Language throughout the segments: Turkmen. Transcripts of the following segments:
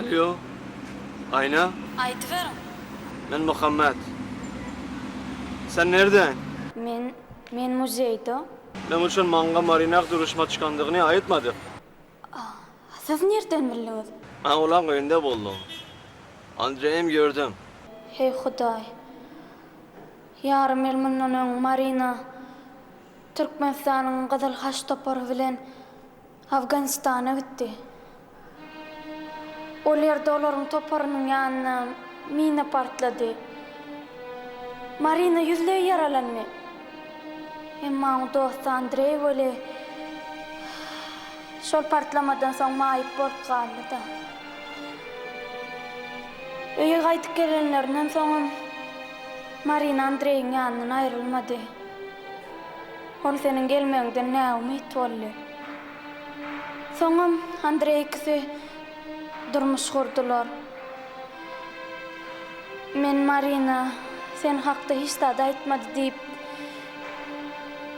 Alýo, Aýna? Aýdyberiň. Men Muhammet. Sen nirden? Men, men muzeýde. Meň üçin maňňa Marinah duruşma çykandygyny aýtmady. A siz nirden bildiňiz? Awlaň öýünde boldum. Andreýem gördüm. Heý Hudaý. Ýarym ýyl mundan öň Marina Türkmenistanyň Gyzyl Haç topary bilen Afganistana gitdi. Ol ýerde olaryň toparynyň ýanyna mina partlady. Marina ýüzleý ýaralandy. Emma oň dosty Andreý weli şol partlamadan soň maýyp bolup galdy-da. Öýe gaýdyp gelenlerinden soňam Marina Andreýiň ýanyndan aýrylmady. Ol seniň gelmegiňden näumyt boldy. Soňam Andreý ikisi durmuş gurdular. Men Marina sen hakda hiç zat aýtmady diýip,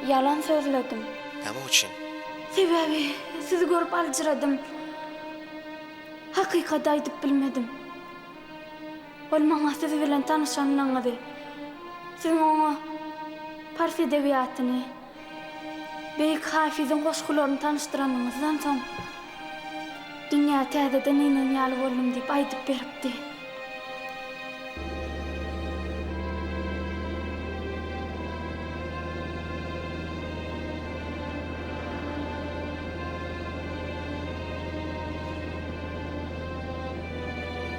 ýalan sözledim. Näme üçin? Sebäbi sizi görüp aljyradym. Hakykaty aýdyp bilmedim. Ol maňa siz bilen tanyşanyňyzy, siziň oňa pars edebiýatyny, beýik Hafiziň goşgularyny tanyşdyranyňyzdan soň, dünýä täzeden inen ýaly boldum diýip aýdyp beripdi.